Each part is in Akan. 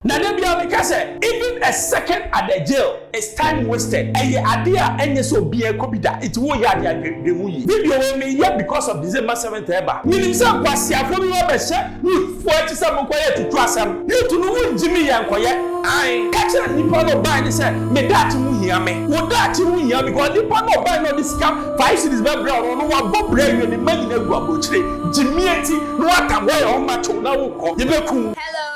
Na da biara meka sɛ even a second at the jail is time wasted, ɛyɛ adeɛ a ɛnyɛ sɛ obiara kɔ bi da, nti wo yɛ adeɛ a dwen dwen ho yie. Me deɛ wei me yɛ because of December seventh ɛɛba, me nim sɛ nkwaseafoɔ bi bɛ bɛ hyɛ youth foɔ akyi sɛ mo nkɔ yɛ tutu asɛm, youth no mo ngye me yɛ nkɔ yɛ, ae ka kyerɛ nnipa na ɔbae no sɛ me daakye ho hia me, wo daakye ho hia wo because nnipa na ɔbae na ɔde sika five cedis bɛ brɛ wo no ɔno wabɔ bra awie ne mma nyinaa agu abrokyire gyimie nti na watam, wayɛ ɔma kyew na wo kɔ yɛ bɛ ku wo.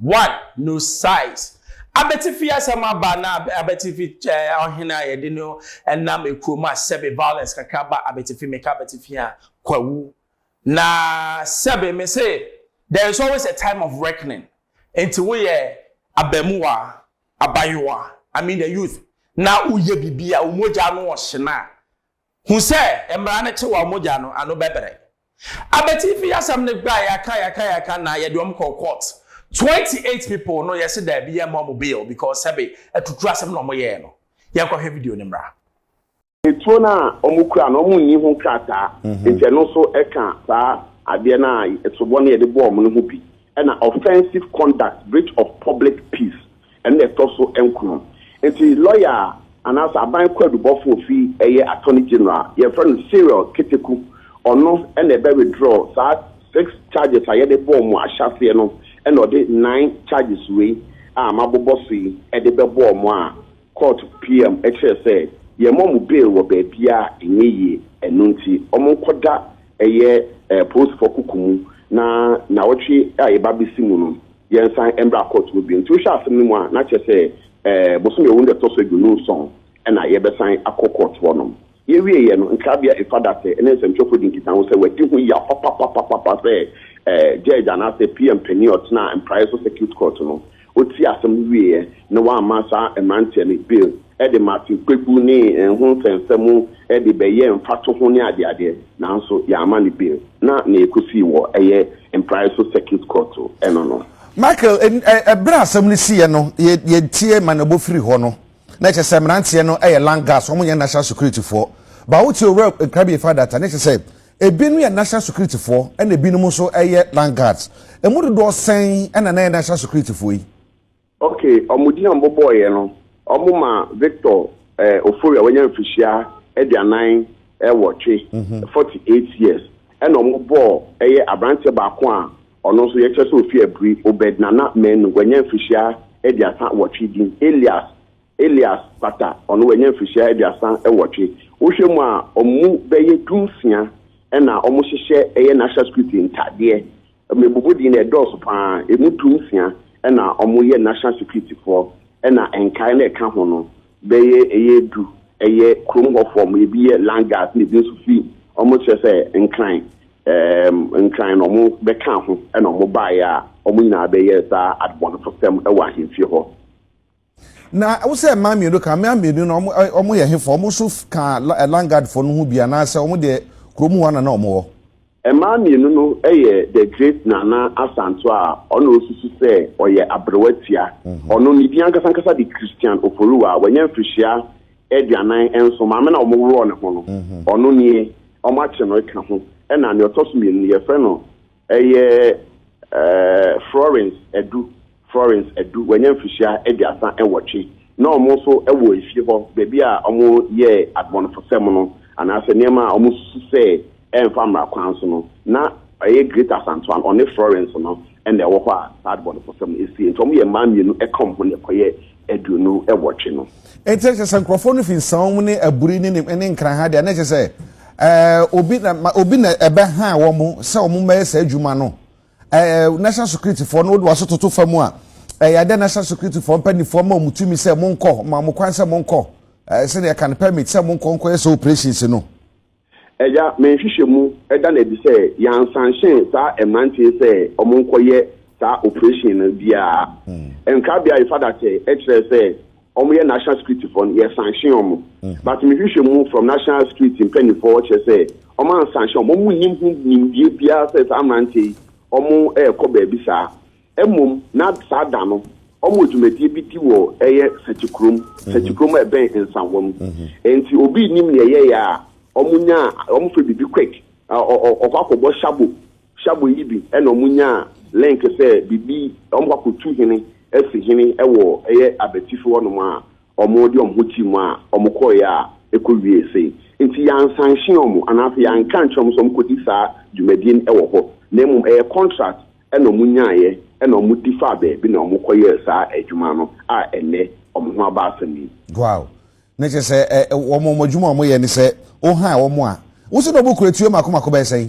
One, no size. Abatifi asɛm aba na abatifi ɔhene a yɛde no nam ekurom a sɛbe violence kakra ba abatifi meka abatifi a kwawu na sɛbe me se there is always a time of reckoning nti woyɛ abamuwa abayewa I mean the youth na woyɛ bibi a omogya no ɔhyena Hu sɛ mmara no kye wɔn mogya no ano bɛbrɛ. Abatifi asɛm no ba a yɛaka yɛaka yɛaka na yɛde wɔn kɔɔ court. Twenty eight people no yɛse daabi yɛmma wɔn bail because sɛbe atuturu asɛm na wɔyɛɛ no. Yɛnkɔhwɛ video no mmra. Etuo no a wɔkura no, wɔnni ho krataa, enti ɛno nso ka saa adeɛ no a soboɔ no yɛde bɔɔ wɔn no ho bi, ɛna offensive conduct, breach of public peace, Ɛno na ɛtɔ so nkron. Enti lɔya a anaasɛ aban kwaadubɔfo a ofi ɛyɛ Attorney General a yɛfrɛ no Cyril Keteku, ɔno na ɛbɛ withdraw saa six charges a yɛde bɔɔ mo ahyɛaseɛ no na ɔde nine charges wei a mabobɔ so yi de bɛbɔɔ mo a court PM kyerɛɛ sɛ yɛmmɔ mo bail wɔ baabiara a ɛnyɛ yie. Ɛno nti wɔnkɔda ɛyɛ polisifo kuku mu na nnawɔtwe a yɛba abɛsi mu no yɛnsan mbra court hɔ bio. Ntsi wohwɛ asɛm no mu a na kyerɛ sɛ bosoom Ewun da ɛtɔ so eduonu nson na yɛbɛsan akɔ court hɔ nom. Yewie yɛ no, nkrabea Efadatse ne nsɛmtwerɛfoɔ dii nkitaho sɛ wɔadi ho yaw papapapapa sɛ judge anaasɛ PM panyin a ɔtena Mpraeɛ so circuit court no, otiee asɛm no wieɛ na wamma saa mmeranteɛ no bail. de Matthew Kpebu ne Nho Nsɛnsɛm mu de bɛyɛɛ mfatoho ne adeade, nanso yɛamma no bio, na nea ekosii wɔ ɛyɛ Mprae so Circuit Court no no. Michael, Bere a asɛm no siiɛ no, yɛtiee ma n'abɔ firii hɔ no, na kyerɛ sɛ mmeranteɛ no yɛ Land Guards, wɔnyɛ National Security foɔ. But wote Owura Nkrabie fa data no, kyerɛ sɛ ebinom yɛ National Security foɔ ɛna ebinom nso yɛ Land Guards. Ɛmu dodoɔ sɛn na na ɛyɛ National Security foɔ yi? Ok, ɔmo din a ɔmo bɔɔeɛ no, ɔmo ma Victor eh, Ofori a wanya mfirihyia aduanan eh, wɔtwe, mm-hmm. 48 years, ɛna ɔmo bɔɔ ɛyɛ aberanteɛ baako a ɔno nso yɛkyɛ sɛ ofi abiri, Obed Nana Manu, wanya mfirihyia aduasa wɔtwe din, Elias Elias Pata, ɔno wanya mfirihyia aduasa wɔtwe. Wohwɛ mu a, ɔmo bɛyɛ dunsia ɛna ɔmo hyehyɛ ɛyɛ national security ntadeɛ Mmebubu deɛ na ɛdɔɔso pa ara, ɛmu du nsia na wɔyɛ National Security foɔ ɛna nkaeɛ no a ɛka ho no bɛyɛ ɛyɛ du yɛ kurom hɔ foɔ, wɔn ɛbi yɛ Land Guards na ɛbi nso firi wɔn kyerɛ sɛ Nkran ɛɛm Nkran na wɔn bɛka ho ɛna wɔn baeɛ a wɔn nyinaa bɛyɛɛ saa adebɔnefosɛm wɔ ahemfie hɔ. Na wo sɛ mmaa mmienu ka, mmaa mmienu no wɔn ɛ, wɔn yɛ hefoɔ? Wɔn nso f- ka La- ɛ, Langadfoɔ no ho bi anaasɛ wɔn deɛ kurom hɔ na na wɔn wɔ? Mmaa mmienu no yɛ The Great Nana Asanto a ɔna ɔsusu sɛ ɔyɛ aberewa tia. Ɔno, ne din ankasa ankasa de Christian Oforiwo a wanya mfirihyia aduanan nso, maame no a wɔn worɔɔ ne ho no, ɔno nie, wɔn akye no ka ho. Ɛna nea ɔtɔ so mmienu no, yɛfrɛ no. Ɛyɛ Florence Adu, Florence Adu, wanya mfirihyia aduasa nwɔtwe, na wɔn nso wɔ efie hɔ, baabi a wɔyɛɛ adebɔnefosɛm no, anaasɛ nneɛma a wɔsusu sɛ ɛmfa mmara kwan so no, na ɛyɛ Greater Asanto Ano, ɔne Florence no na ɛwɔ hɔ a saa adebɔnefosɛm no sie, nti wɔyɛ mmaa mmienu ka wɔn ho na ɛkɔyɛ aduonu nwɔtwe no. Enti ɛkyerɛ sɛ nkurɔfoɔ no fi nsawɔ mu ne aburi ne ne ne nkran ha deɛ na ɛkyerɛ sɛ ɛɛ obi na ma obi na ɛbɛhaa wɔn sɛ wɔn mmɛyɛ saa adwuma no ɛɛ national security foɔ no wode wɔn so toto fam a ɛyɛ adɛ national security foɔ mpanimfoɔ ma wɔn tumi sɛ wɔn nkɔ ma wɔn kwan sɛ wɔn nkɔ ɛɛ sɛdeɛ ɛka no permit sɛ wɔn nkɔ nkɔyɛ sɛ operations no. Agya, me nhwehwɛmu da no adi sɛ yɛansanhyɛn saa mmerante yi sɛ wɔnkɔyɛ saa oprehyɛn no biara. Nkrabea a yɛfa da kyɛ kyerɛɛ sɛ wɔyɛ National Security foɔ no, yɛsanhyee wɔn. But me nhwehwɛmu from National Security mpanimfoɔ kyerɛ sɛ wɔansanhyɛ wɔn. Wɔnnim ho nimdeɛ biara sɛ saa mmerante yi wɔrekɔ baabi saa. Mmom, na saa da no, wɔwɔ dwumadie bi di wɔ ɛyɛ Sakyikurom, Sakyikurom a ɛbɛn Nsawam. Mm-hmm. Enti obi nnim nea ɛyɛeɛ a, wɔnyaa, wɔfrɛ biribi quick, ɔkɔ akɔbɔ shabo, shabo yi bi, ɛna wɔnyaa link sɛ biribi, wɔkɔ akɔtu hene, asi hene wɔ ɛyɛ abatifi hɔnom a, wɔde wɔn ho gye mu a, wɔkɔeɛ a, ɛkɔ wie sei. Nti yɛansanhye wɔn, anaasɛ yɛanka nkyerɛ wɔn sɛ wɔkɔdi saa dwumadie no wɔ hɔ, na mmom ɛyɛ contract na wɔnyaeɛ na wɔde faa baabi na wɔkɔyɛɛ saa adwuma no a ɛnnɛ wɔn ho aba asɛm yi. Wow! Na kyerɛ sɛ ɛ, ɛ, wɔn wɔn adwuma a wɔyɛ ne sɛ wohaa wɔn a. Wose na wɔkura tuo mako mako bɛyɛ sɛn?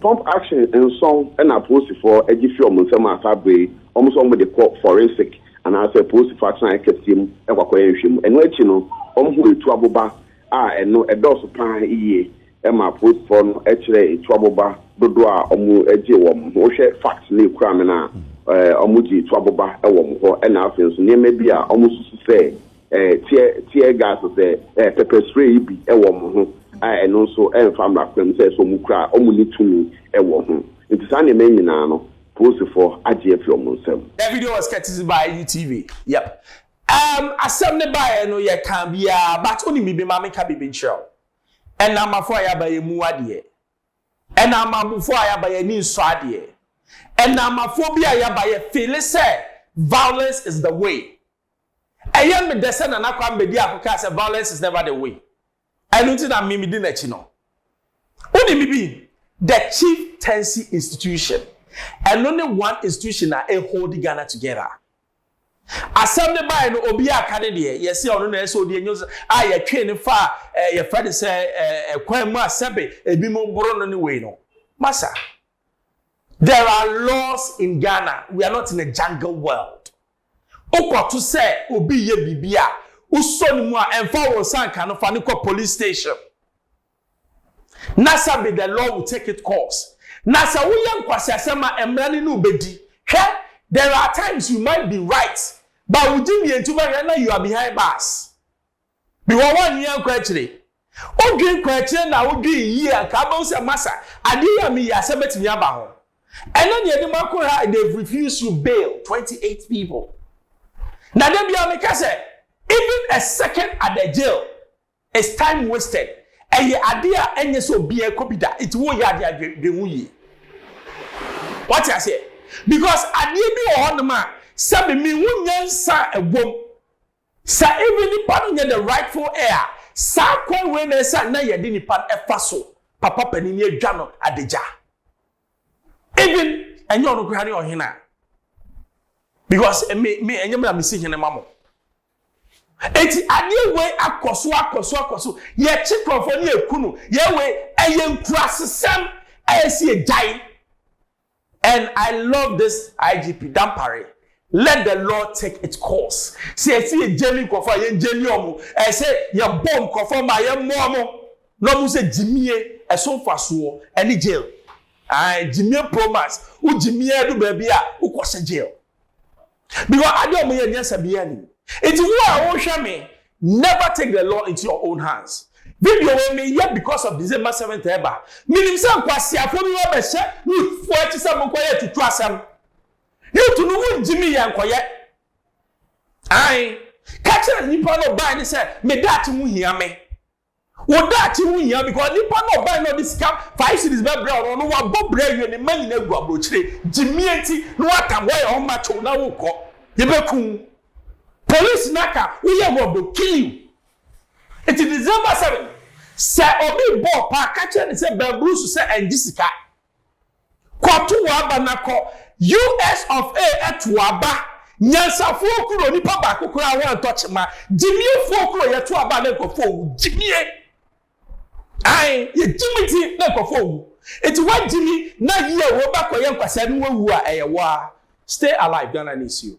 Pump action nson na apolisifoɔ gye firi wɔn nsam a saa berɛ yi wɔn nso wɔde kɔ forensic anaasɛ apolisifoɔ atenaeɛ kɛseɛ mu kɔakɔyɛ nhwɛmu. Ɛno akyi no wɔhuu etuo aboba a ɛno ɛdɔɔso pa ara yie ma apolisifɔ no kyerɛ etua boba dodoɔ a ɔmo gye wɔ mo ho. Wo hwɛ facts no ekura me no a, ɔmo gye etua boba wɔ mo hɔ ɛna afei nso nneɛma bi a ɔmo susu sɛ tear tear gas sɛ pepper spray yi bi wɔ mo ho a ɛno nso ɛnfa mmra kwan mu sɛ ɛsɛ ɔmo kura a ɔmo ni tumi wɔ ho. Nti saa nneɛma yi nyinaa no polisifɔ agye afi ɔmo nsam. That video was courtesy by UTV, yep um asɛm no baeɛ no yɛkaa biaa but wonim biribi ma menka biribi nkyerɛ wo. Ɛna amafo a yɛaba yɛn mu adeɛ. Ɛna amabufo a yɛaba yɛn ani nsɔ adeɛ. Ɛna amafo bi a yɛaba yɛ feele sɛ violence is the way. Ɛyɛ me dɛ sɛ Nana Kwambe di ako kaa sɛ violence is never the way. Ɛno nti na me medi n'akyi no. Wone me bi? The Chieftaincy Institution. Ɛno ne one institution a ɛhold Ghana together. Asɛm no bae no, obiara aka ne deɛ. Yɛse ɔno na ɛsɛ odi enyo a yɛtwee no faa eh, yɛfrɛ no sɛ eh, kwan mu a sɛbe ebinom boro no ne wei no. Masa, there are laws in Ghana. We are not in a jungle world. Wokɔto sɛ obi yɛ biribi a, wosɔ ne mu a, ɛmfa wo nsa nka no, fa no kɔ police station. na sɛ be the law will take it course na sɛ woyɛ nkwaseasɛm a mmara no ne wo bɛdi hwɛ there are times you might be right but wo gye mmientu bɛhwɛ na you are behind bars because woanwene ankɔ akyire wodwen kɔ akyire na wodwen yie a nka abɛhu sɛ masa adeɛ yi a meyɛ asɛm bɛtumi aba ho ɛnɛ deɛ de makɔ ha they've refused you bail 28 people na da bia meka sɛ even a second at the jail It's time wasted. Ɛyɛ ade a ɛnyɛ sɛ obiara kɔ bi da, nti woreyɛ ade a dwen dwen ho yie. Wate aseɛ? Because adeɛ bi wɔ hɔnom a sɛ me mehu nyansa a ɛwom sɛ even nipa no nyɛ the rightful heir a, saa kwan wei na ɛsɛ a na yɛde nipa no ɛfa so, papa panin no adwa no adagya. Even ɛnyɛ ɔno koraa ne ɔhene a, because me me ɛnyɛ me na mesi hene ma mo. Enti adeɛ wei akɔ so akɔ so akɔ so, yɛkye kurɔfoɔ ne yɛku no, yɛ wei, ɛyɛ nkurasesɛm a ɛsɛ yɛgyae. And I love this IGP Dampare, let the law take its course. Sɛ ɛsɛ yɛgyani nkurɔfoɔ a, yɛngyani wɔn, ɛsɛ yɛbɔ nkurɔfoɔ mmaa, yɛmmɔ wɔn na wɔn sɛ gyimie, ɛso mfasoɔ, ɛne jail. Ae, gyimie pro max, wogyimie adu baabi a, wokɔhyɛ jail. because ade a wɔyɛ nyɛ sɛ bia nim nti wo a wohwɛ me never take the law into your own hands video wei mi yɛ because of december seventh ɛba minim sɛ nkwasiafo bi wɔbɛhyɛ youthfo akyi sɛ mo nkɔyɛ tutu asɛm youth no mu ngye mi yɛ nkɔyɛ ae kakyɛ nipa no ɔbaa ne sɛ me daakye ho hia me. Wo daakye ho hia because nipa no a ɔbae na ɔde sika five cedis bɛbrɛ wo no, ɔno wabɔ bra awie, ne mma nyinaa agu aburokyire. Gyimie nti na woatam hɔ ayɛ hɔ macho na worekɔ. Yɛbɛku wo. Police no aka woyɛ wrong, they will kill you. Nti December seven, sɛ obi rebɔ wo paa, ka kyerɛ no sɛ bɛn brusu sɛ ɛngye sika. Kɔto w'aba na kɔ US of A to w'aba Nyansafoɔ kuro onipa baako koraa wantɔ kyema Gyimiefoɔ kuro yɛto aba a na nkurɔfoɔ ɔwu Gyimie Ae yɛgyimi nti na nkurɔfoɔ ɔwu Nti woagyimi na yie wobɛkɔyɛ nkwasaa na woawu a ɛyɛ woa Stay alive Ghana needs you